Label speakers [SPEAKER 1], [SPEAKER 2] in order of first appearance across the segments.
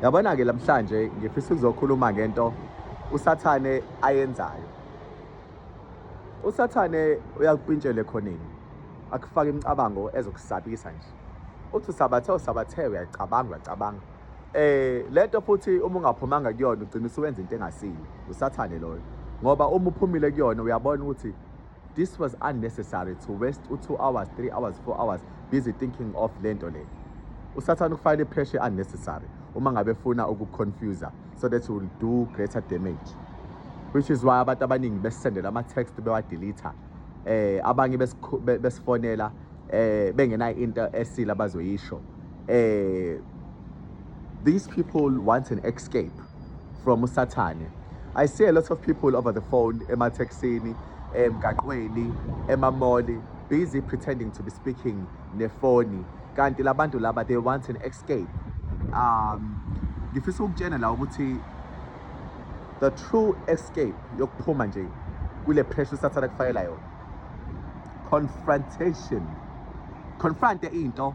[SPEAKER 1] yabona ke namhlanje ngifisa ukuzokhuluma ngento usathane ayenzayo usathane uyakupintshela ekhoneni akufaka imicabango ezokusabisa nje uthi usabathe usabathe uyacabanga uyacabanga eh lento futhi uma ungaphumanga kuyona ugcina usuwenza into engasile usathane loyo ngoba uma uphumile kuyona uyabona ukuthi This was unnecessary to waste u-2 hours, 3 hours, 4 hours busy thinking of le nto le. Usathane ukufayela i-pressure unnecessary uma ngabe funa ukuconfuser so that will do greater damage. Which is why abantu abaningi besisendela ama-text bewadelitha. Eh abanye besifonela eh bengenayo into esile abazoyisho eh these people want an escape from usathane i see a lot of people over the phone emathekisini emgaqweni emamoli busy pretending to be speaking nefoni kanti labantu laba they want an escape um ngifisa ukutshena la ukuthi the true escape yokuphuma nje kule pressure usathane kufayela yona confrontation confronte into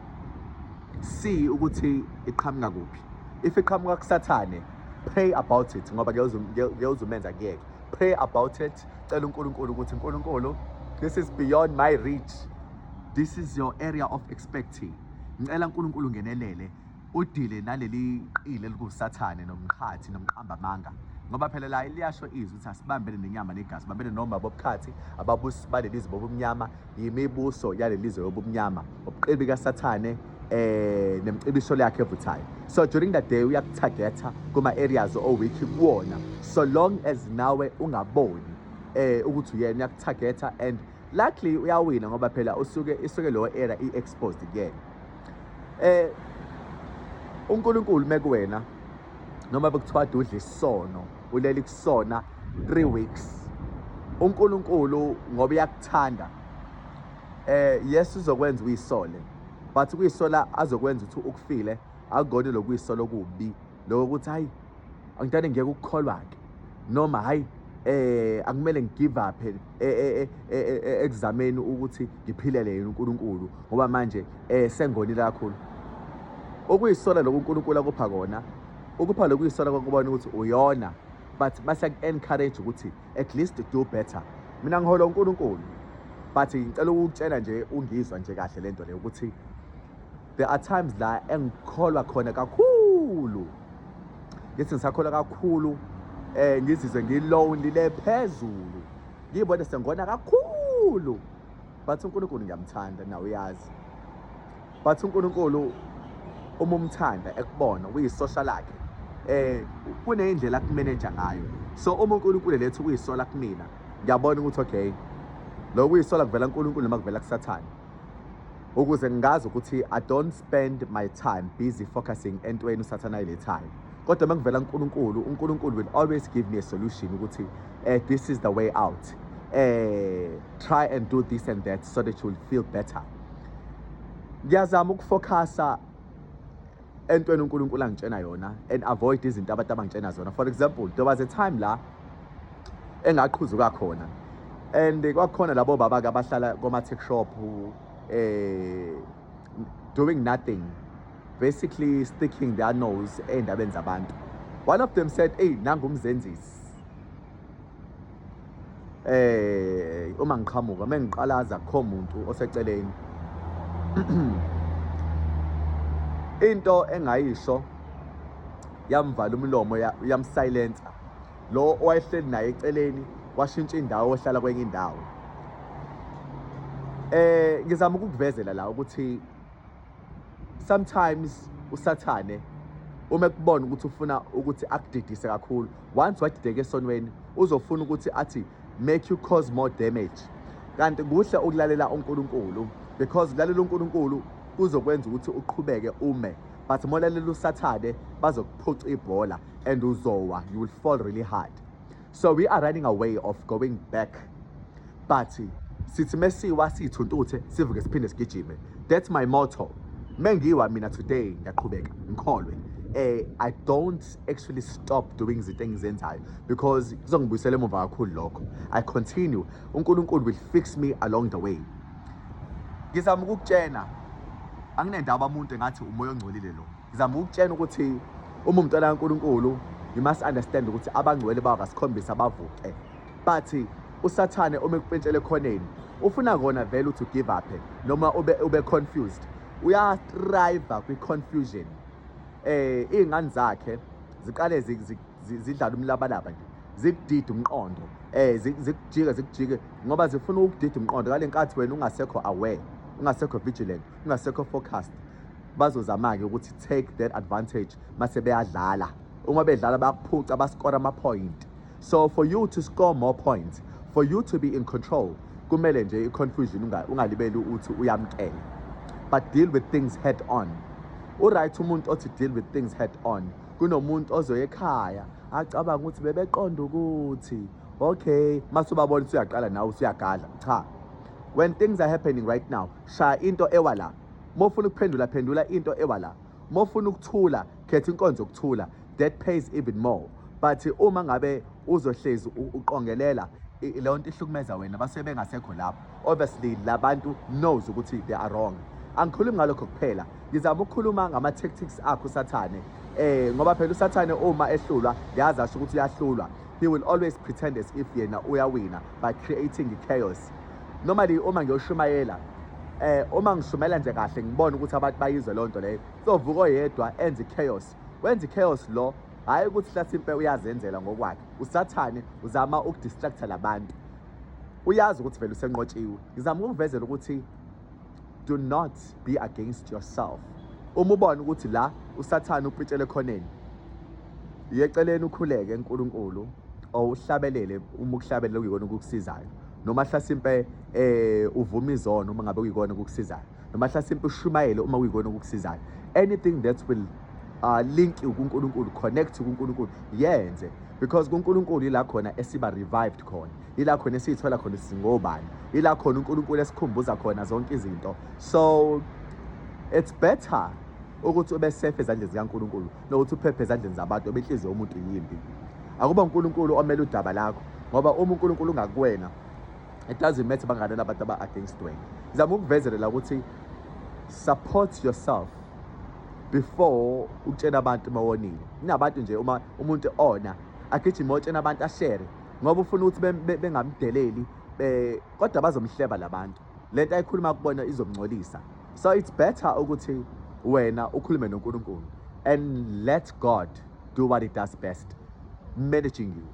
[SPEAKER 1] see ukuthi iqhamuka kuphi if iqhamuka kusathane pray about it ngoba ngiyawuzumenza kuyeke pray about it cela uNkulunkulu ukuthi uNkulunkulu this is beyond my reach this is your area of expertise ngicela uNkulunkulu ngenelele udile naleli qili elingusathane nomqhathi nomqambamanga ngoba phela la liyasho izwi ukuthi asibambene nenyama negazi bambene noma bobukhathi ababusi baleli zwe bobumnyama yimibuso yaleli zwe yobumnyama ubuqili kasathane eh nemcibisho yakhe evuthayo so during the day uyakutargeta kuma areas o week kuwona so long as nawe ungaboni eh ukuthi uyena uyakutargeta and luckily uyawina ngoba phela usuke isuke lowo era i exposed again eh uNkulunkulu mekuwena noma bekuthiwa udla isono uleli kusona 3 weeks uNkulunkulu ngoba uyakuthanda eh yes uzokwenza uyisole but kuyisola azokwenza ukuthi ukufile akugoni lokuyisola okubi lokho ukuthi hayi angidane ngeke ukukholwa ke noma hayi eh akumele ngigive up eh, eh, eh, ekuzameni ukuthi ngiphilele yena uNkulunkulu ngoba manje eh sengonile kakhulu okuyisola lokho uNkulunkulu akupha kona ukupha lokuyisola kokubona ukuthi uyona but base encourage ukuthi at least do better mina ngihola uNkulunkulu but ngicela ukutshela nje ungizwa nje kahle lento le ukuthi there are times la engikholwa khona kakhulu ngithi ngisakholwa kakhulu eh ngizizwe ngilonely le phezulu ngiyibone sengona kakhulu bathi uNkulunkulu ngiyamthanda nawe uyazi bathi uNkulunkulu uma umthanda ekubona uyisosha lakhe eh kuneyindlela akumeneja ngayo so uma uNkulunkulu lethu uyisola kumina ngiyabona ukuthi okay lokho uyisola kuvela uNkulunkulu noma kuvela kusathane ukuze ngazi ukuthi I don't spend my time busy focusing entweni usathana ayilethayo kodwa uma ngivela uNkulunkulu uNkulunkulu will always give me a solution ukuthi eh this is the way out eh try and do this and that so that you will feel better ngiyazama ukufocusa entweni uNkulunkulu angitshena yona and avoid izinto abantu abangitshena zona for example there was a time la engaqhuzuka khona and kwakukhona labo baba ke abahlala koma tech shop eh doing nothing basically sticking their nose endabeni zabantu one of them said hey nangumzenzisi eh uma ngiqhamuka uma ngiqalaza kho muntu oseceleni into engayisho yamvala umlomo yamsilencer lo owayehleli naye eceleni washintsha indawo ohlala kwenye indawo eh ngizama ukukuvezela la ukuthi sometimes usathane uma ekubona ukuthi ufuna ukuthi akudidise kakhulu once wadideka esonweni uzofuna ukuthi athi make you cause more damage kanti kuhle ukulalela uNkulunkulu because lalela uNkulunkulu kuzokwenza ukuthi uqhubeke ume but molalela usathane bazokuphuca ibhola and uzowa you will fall really hard so we are running away of going back but sithi mesiwa siyithuntuthe sivuke siphinde sigijime that's my motto mengiwa mina today ngiyaqhubeka ngikholwe eh i don't actually stop doing izinto engizenzayo because kuzongibuyisela emuva kakhulu lokho i continue uNkulunkulu will fix me along the way ngizama ukukutshena anginendaba umuntu engathi umoya ongcolile lo ngizama ukutshena ukuthi uma umntwana kaNkulunkulu you must understand ukuthi abangcwele bakasikhombisa bavuke but usathane uma ekupentshele khoneni ufuna kona vele uthi give up noma ube ube confused uya thrive kwi confusion eh izingane zakhe ziqale zidlala umlabalaba nje zikudida umqondo eh zikujika zikujike ngoba zifuna ukudida umqondo ngalenkathi wena ungasekho aware ungasekho vigilant ungasekho focused bazozama-ke ukuthi take that advantage mase beyadlala uma bedlala bayakuphuca baskore ama-point so for you to score more points for you to be in control kumele nje i-confusion ungalibeli uthi uyamkela but deal with things head on uright umuntu othi deal with things head on kunomuntu ozoya ekhaya acabanga ukuthi bebeqonda ukuthi okay mase ubabona usuyaqala nawe usuyagadla cha when things are happening right now shaya into ewa la uma ufuna ukuphendula phendula into ewa la uma ufuna ukuthula khetha inkonzo yokuthula that pays even more but uma ngabe uzohlezi uqongelela leyo nto ihlukumeza wena basuke bengasekho lapho obviously labantu knows ukuthi they are wrong angikhulumi ngalokho kuphela ngizama ukukhuluma ngama-tactics akho usathane eh ngoba phela usathane uma ehlulwa ngiyazi asho ukuthi uyahlulwa he will always pretend as if yena uyawina by creating chaos normally uma ngiyoshumayela eh uma ngishumayela nje kahle ngibona ukuthi abantu bayizwe lonto leyo sovuka oyedwa enze chaos wenza chaos lo hayi ukuthi hlasimpe uyazenzela ngokwakhe usathane uzama ukudistracta labantu uyazi ukuthi vele usenqotshiwe ngizama ukuvezela ukuthi do not be against yourself uma ubona ukuthi la usathane upitshele khoneni yeceleni ukhuleke uNkulunkulu owuhlabelele uma ukuhlabelela kuyikona ukukusizayo noma hlasimpe eh uvuma izono uma ngabe kuyikona ukukusizayo noma hlasimpe ushumayele uma kuyikona ukukusizayo anything that will uh, link kuNkulunkulu connect kuNkulunkulu yenze because kuNkulunkulu ila khona esiba revived khona ila khona esiyithola khona singobani ila khona uNkulunkulu esikhumbuza khona zonke izinto so it's better ukuthi ube safe ezandleni zikaNkulunkulu nokuthi uphephe ezandleni zabantu obinhliziyo yomuntu yimbi akuba uNkulunkulu omele udaba lakho ngoba uma uNkulunkulu ungakuwena it doesn't matter banganela abantu aba against wena ngizama ukuvezelela ukuthi support yourself before utshena abantu mawonile kunabantu nje uma umuntu ona agijime otshena abantu ashere ngoba ufuna ukuthi bengamdeleli eh, kodwa bazomhleba labantu lento ayikhuluma kubona izomngcolisa so it's better ukuthi wena ukhulume noNkulunkulu and let God do what he does best managing you